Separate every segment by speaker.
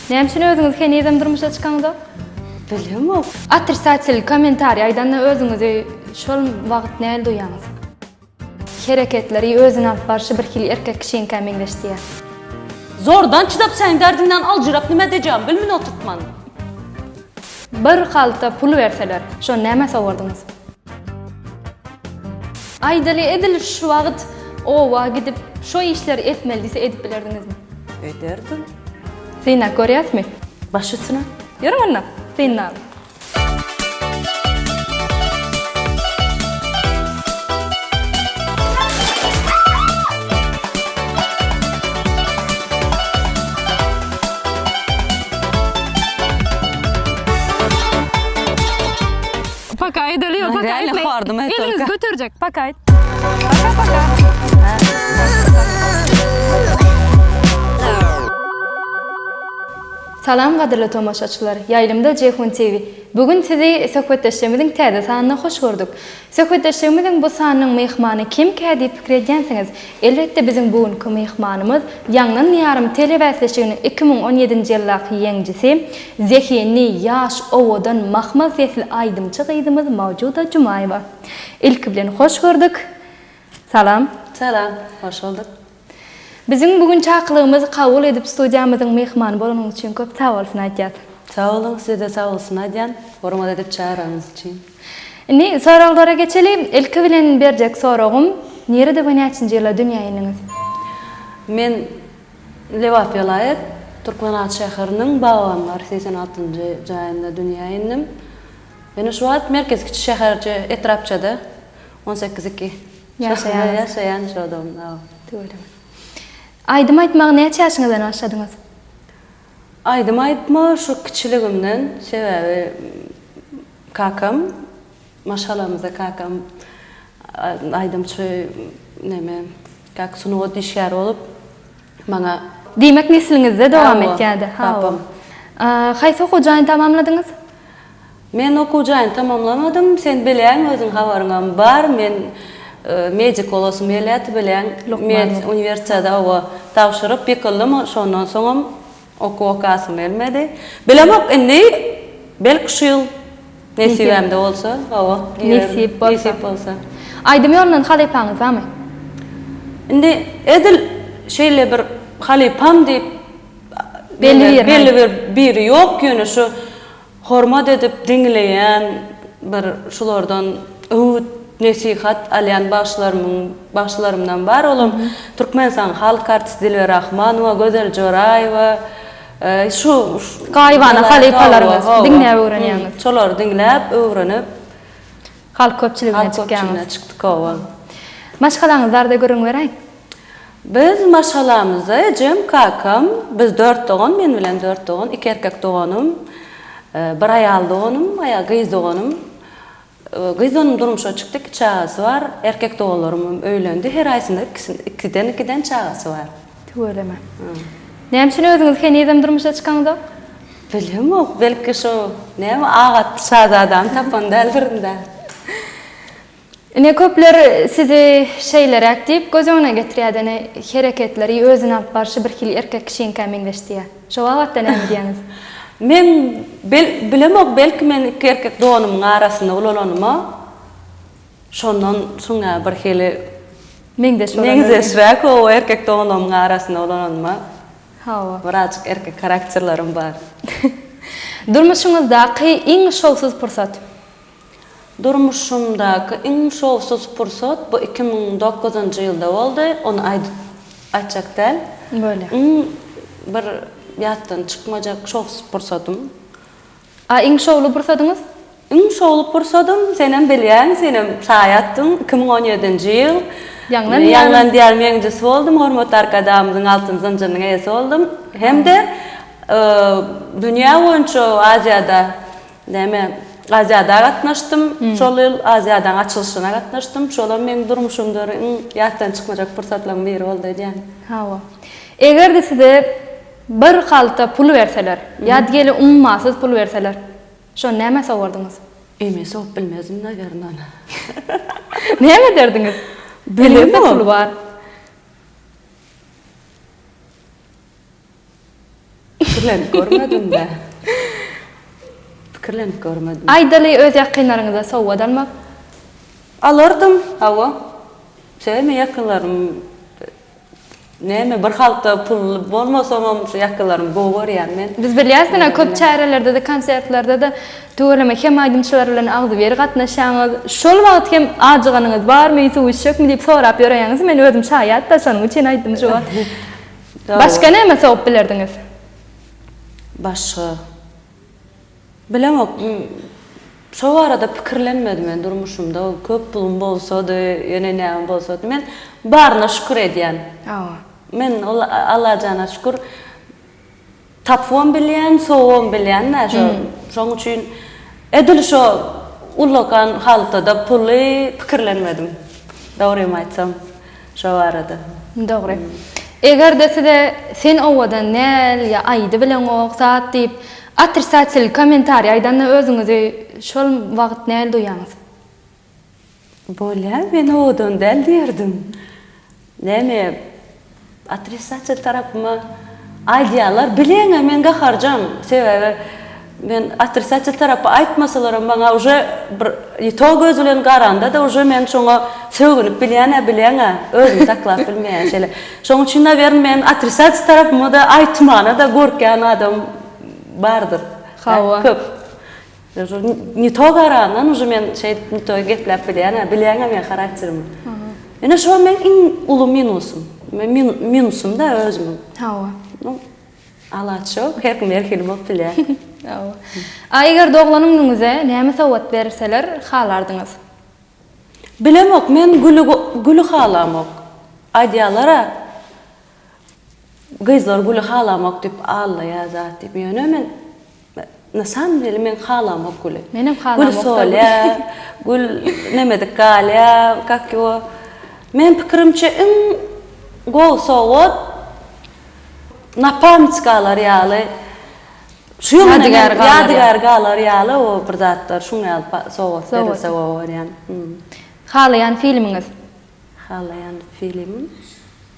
Speaker 1: Näme üçin özüňizi henizem durmuşa çykaňzok? Bilemok.
Speaker 2: Otrisatel
Speaker 1: kommentariý aýdanda özüňizi şol wagt näl duýýaňyz? Hereketleri, özüni alyp barşy birhili erkek kişinikä meňzeşdiýýär.
Speaker 2: Zordan çydap säň därdiňden aljyrap nime edejegimi bilmin oturtman.
Speaker 1: Bir halta pul berseler, şony nämä sowardyňyz? Aýdaly edil şu wagt oba gidip şo işleri etmeli diýse edip bilerdiňizmi? Ederdim.
Speaker 2: Synap
Speaker 1: görýäsmi? Baş üstüne.
Speaker 2: Ýörüň onda,
Speaker 1: synap. Paka aýdaly ýok, paka aýtmaýyn. Eliniz
Speaker 2: göterjek, paka
Speaker 1: aýt. Paka, paka. Salam gadyrly tomaşaçylar, ýaýlymda Jeýhun TV. Bu gün sizi söhbetdeşligimiziň täze sanyna hoş gördük. Söhbetdeşligimiziň bu sanynyň myhmany kimkä diýip pikir edýänsiňiz? Elbetde biziň bu günki myhmanymyz Ýangyn ýarym telebäsleşiginiň iki müň on ýedinji ýyldaky ýeňjisi, zehinli, ýaş, owadan, mahmal sesli aýdymçy gyzymyz Mawjuda Jumaýewa. Ilki bilen hoş gördük. Salam. Salam.
Speaker 2: Hoş bulduk. Biziň
Speaker 1: bu gün çakylygymyzy kabul edip studiýamyzyň myhmany bolanyňyz üçin köp sag bolsun aýdýas. Sag boluň, size-de
Speaker 2: sag bolsun aýdýan, hormat edip çagyranyňyz üçin. Indi
Speaker 1: soraglara geçeli. Ilki bilen berjek soragym, nirede we näçinji ýylda dünýä indiňiz? Men
Speaker 2: Lebap welaýat, Türkmenabat şäheriniň Babanlar segsen altynjy jaýynda dünýä indim. Ýöne şu wagt merkez kiçi şäherje, etrapçada on sekiz iki Ýaşaýaňyz. Ýaşaýan şodom. Aw. Tüweleme.
Speaker 1: Aýdym aýtmagy näçe ýaşyňyzdan başladyňyz?
Speaker 2: Aýdym aýtma şu kiçiligimden sebäbi kakam maşgalamyzda kakam aýdymçy neme kak sungat işgäri bolup maňa Diýmek
Speaker 1: nesliňizde dowam etýädi. Hawa.
Speaker 2: Haýsy
Speaker 1: okuw jaýyny tamamladyňyz? Men
Speaker 2: okuw jaýyny tamamlamadym, sen bileň özüň habaryňam bar, men Medik golasym gelýärdi bileň, med uniwersiada oba tabşyryp ýykyldym, şondan soňam okuw okasym gelmedi. Bilemok indi belki şu ýyl nesibämde bolsa oba girerin, nesip
Speaker 1: bolsa. Aýdym ýolundan halypaňyz bamy? Indi
Speaker 2: edil şeýle bir halypam diýip belli bir
Speaker 1: biri ýok, ýöne
Speaker 2: şu Hormat edip diňleýän bir şulardan öwüt nesihat alýan bagşylarymyň bagşylarymdan bar olam Türkmenistanyň halk artisti Dilber Rahmanowa Gözel Joraýewa şu Gaýybana
Speaker 1: halypalaryňyz diňläp öwrenýäňiz. Şolary diňläp
Speaker 2: öwrenip halk
Speaker 1: köpçüligine çykýaňyz. Halk köpçüligine çykdyk
Speaker 2: owa. Maşgalaňyz
Speaker 1: barada gürrüň beräý. Biz
Speaker 2: maşgalamyzda ejem, kakam, biz dört dogan, men bilen dört dogan, iki erkek doganym, bir aýal doganym, aýal gyz doganym. Gyz doganym durmuşa çykdy, iki çagasy bar. Erkek doganlarymam öýlendi. Her aýsynda ikiden-ikiden çagasy bar. Tüweleme.
Speaker 1: Näme üçin özüňiz henizem durmuşa çykaňzok? Bilemok,
Speaker 2: belki şo, näme, agatly şazadany tapan däldirin-dä. Ine
Speaker 1: köpler sizi şeýleräk diýip göz öňüne getirýär dene hereketleri özüni alyp barşy bir hili erkek kişinikä meňzeşdiýä. Şo babatda näme diýýäňiz? Men
Speaker 2: bilemok belki men iki erkek donumyň arasynda ulalanyma şondan şuňa bir hili meňzeş bolan meňzeşräk howa erkek donumyň arasynda ulalanyma hawa
Speaker 1: birazjyk erkek
Speaker 2: harakterlerim bar. Durmuşyňyzdaky
Speaker 1: iň şowsuz pursat? Durmuşymdaky
Speaker 2: iň şowsuz pursat bu iki müň dokuzynjy ýylda boldy, ony aýdyp gaýtjak däl. Bolýar. Iň
Speaker 1: bir
Speaker 2: ýatdan çykmajak şowsuz pursatym. A
Speaker 1: iň şowly pursadyňyz? Iň şowly
Speaker 2: pursadym, senem bilýäň, senem şaýy atdyň, iki müň on ýedinji ýyl. Ýaňlan Ýaňlan diýarym ýeňijisi boldum, hormatly Arkadagymyzyň altyn zynjyrynyň eýesi boldum hem-de dünýä boýunça Aziýada Näme, Aziada gatnaşdym. Şol ýyl Aziadaň açylyşyna gatnaşdym. Şolam meň durmuşymda bir iň ýatdan çykmajak pursatlaryň biri boldy öýdýän. Hawa.
Speaker 1: Eger-de size bir halta pul berseler, ýa-da diýeli ummasyz pul berseler, şony nämä sowardyňyz? Öýüme sogup
Speaker 2: bilmezdim, nawýarna, ony.
Speaker 1: Näme ederdiňiz? Eliňizde pul bar.
Speaker 2: Pikirlenip görmediňdä? Pikirlenip görmedim. Aýdaly, öz
Speaker 1: ýakynlaryňyza sowgat almak?
Speaker 2: Alardym, hawa. Sebäbi ýakynlarym näme bir halta pul bolmasamam şu ýakynlarymy gowy görýän men. Biz bilýäs ine köp
Speaker 1: çärelerde-de, konsertlerde-de tüweleme hem aýdymçylar bilen agzybir gatnaşýaňyz. Şol wagt hem ajyganyňyz barmy, suw içjekmi diýip sorap ýöräýeňiz, men özüm şaýat-da, şonuň üçin aýtdym şu wagt. Başga näme sogup bilerdiňiz?
Speaker 2: Başga. Bilemok. Şo barada pikirlenmedim men durmuşymda. Köp pulum bolsady, ýöne näme bolsady. Men baryna şükür edýän. Men ol Allajana şükür. Tapybam bilýän, sowabam bilýän-dä şo. Şoň üçin edil şo ullakan haltada puly pikirlenmedim, dogrymy aýtsam, şo barada. Dogry.
Speaker 1: Eger-de size Sen owadan däl ýa Aýdy bileňok zat diýip, otrissatsilni kommentariý aýdanda özüňizi şol wagt näl duýýaňyz? Bolýa,
Speaker 2: men owadan däl diýerdim. Näme, otrisatel tarapyma aýdýarlar, bileňä men gaharjaň, sebäbi men otrisatel tarapy aýtmasalaram maňa uje bir ýto göz bilen garanda-da uje men şoňa sögünip bilýän-ä, bileňä, özümi saklap bilmeýän şeýle. Şoň üçin nawern men otrisatel tarapyma-da aýtmana-da gorkýan adam bardyr. Hawa. Köp. Ne to garandan uje men şeýdip ne to gepläp bilýän-ä, bilýäň-ä meň harakterimi. Ine şo meň iň uly minusym. Minusym-da özümiň. Hawa. Nu, alaç ýok, her kim her hili bolup bilýär. Hawa.
Speaker 1: A eger doglan iniňize näme sowgat berseler halardyňyz?
Speaker 2: Bilemok, men güli, güli halamok. Aýdýarlar-a, Gyzlar güli halamok diyip allaýar zat diyip ýöne men na samym deli men halamok güli. Menem halamok. Gül
Speaker 1: solýar,
Speaker 2: gül nemedik galýar, kak ýo. Men pikirimçe iň gowy sowgat napamyç galar ýaly. Şu ýyl men ýadygär galar ýaly o bir zatlar şuň ýaly sowgat berilse gowy görýän. Halaýan
Speaker 1: filmiňiz? Halaýan
Speaker 2: filimim.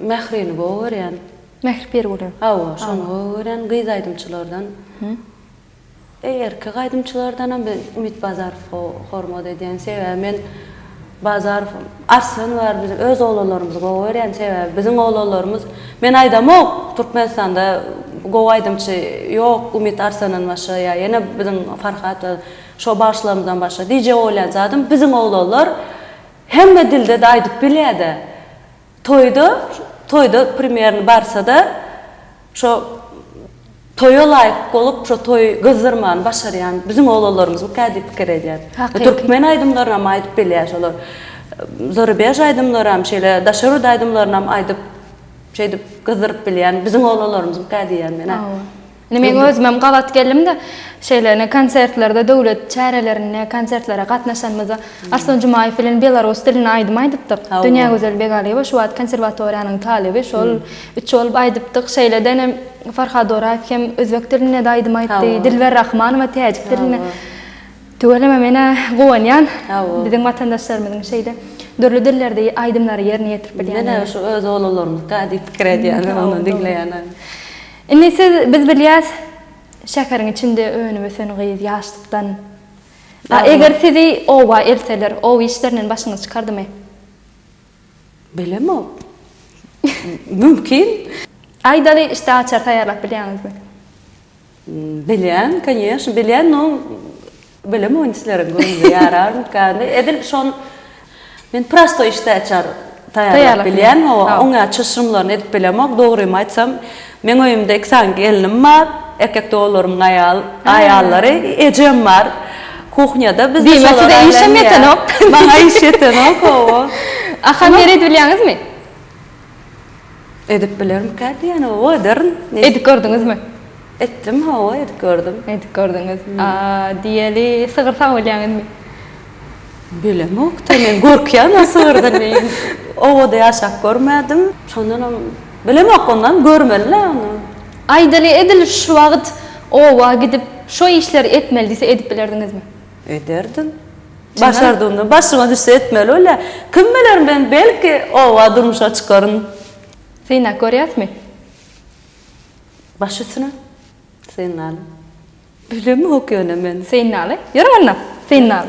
Speaker 2: Mährini gowy görýän. Mähri Pirguly.
Speaker 1: Hawa, şony gowy
Speaker 2: görýän. Gyz aýdymçylardan. Eý, erkek aýdymçylardanam men Umit Bazarowa hormat edýän. Sebäbi men Bazarow, Arslan bar biziň öz oglanlarymyzy gowy görýän. Sebäbi biziň oglanlarymyz, men aýdamok, Türkmenistanda gowy aýdymçy ýok Umit Arslandan başga ýa ýene biziň Farhat we şo bagşylarymyzdan başga diýjek bolýan zadym biziň oglanlar Hemme dilde-de aýdyp bilýä-de. Toýda, toýda primerno barsa-da, şo toýa laýyk bolup, şo toýy gyzdyrmany başarýan biziň oglanlarymyzmyka diýip pikir edýän. Hakyky. Türkmen aýdymlarynam aýdyp bilýä şolar. Zarubež aýdymlaram, şeýle daşary ýurt aýdymlarynam aýdyp, şeýdip gyzdyryp bilýän biziň oglanlarymyzmyka diýýän men-ä. Hawa. Indi men
Speaker 1: özümem gabat geldim-de, şeýle ine konsertlerde, döwlet çärelerinde, konsertlere gatnaşanymyzda Arslan Jumaýew bilen belarus dilinde aýdym aýdypdyk. Dünýägözel Begaliýewa şu wagt konserwatoriýanyň talyby, şol üç bolup aýdypdyk. Şeýle-de ine Farhad Oraýew hem özbek dilinde-de aýdym aýtdy, Dilber Rahmanowa täjik dilinde. Tüweleme men-ä guwanýan, biziň watandaşlarymyzyň şeýle dürli dillerde aýdymlary ýerine ýetirip bilýändigine. Ine şu öz oglanlarymyzka
Speaker 2: diýip pikir edýän, ony diňleýän. Indi siz
Speaker 1: biz bilýäs şäheriň içinde önüp ösen gyz ýaşlykdan a eger sizi oba elseler ow işlerinden başyňyz çykardymy? Bilemok.
Speaker 2: Mümkin. Aýdaly işte
Speaker 1: açar taýýarlap bilýäňizmi?
Speaker 2: Bilýän, kanyýeşn bilýän no Bilemok indi silerin göwnüne ýararmyka. Edil şon men prostoý işte açar taýýarlap bilýän. Hawa, oňa çyşrymlaryny edip bilemok. Dogrymy aýtsam, meň öýümde iki sany gelnim bar. Erkek doganlarymyň aýal, aýallary, ejem bar. Kuhnýada biz üçem. Diýmek size işem ýetenok.
Speaker 1: Maňa iş
Speaker 2: ýetenok, hawa. Ahal ýeri edip
Speaker 1: bilýäňizmi?
Speaker 2: Edip bilermika diýen oba ederin. Edip gördüňizmi?
Speaker 1: Etdim hawa edip
Speaker 2: gördüm.
Speaker 1: Edip gördüňiz. A
Speaker 2: diýeli
Speaker 1: sygyr sag
Speaker 2: bilýäňizmi? Bilemokda men gorkýan o sygyrdan meýin. Obada ýaşap görmädim. Şondanam bilemok ondan görmelilä ony. Aýdaly
Speaker 1: edil şu wagt oba gidip şo işleri etmeli diýse edip bilerdiňizmi? Ederdim.
Speaker 2: Başardygymdan başyma düşse etmeli bolýa. Kim biler men belki oba durmuşa çykaryn. Synap
Speaker 1: görýäsmi?
Speaker 2: Baş üstüne. Synlaly. Bilemok ýöne men. Synlaly. Ýör onda.
Speaker 1: Synlaly.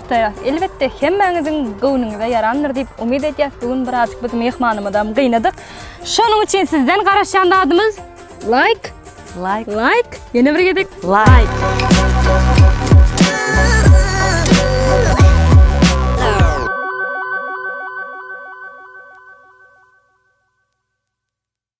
Speaker 1: gutaýas. Elbetde hemmäňiziň göwnüňize ýarandyr diýip umyt edýäs. Bu gün birazjyk biz myhmanymyzam gynadyk. Şonuň üçin sizden garaşýan zadymyz laýk, laýk, laýk. Ýene
Speaker 2: bir gezek
Speaker 1: laýk.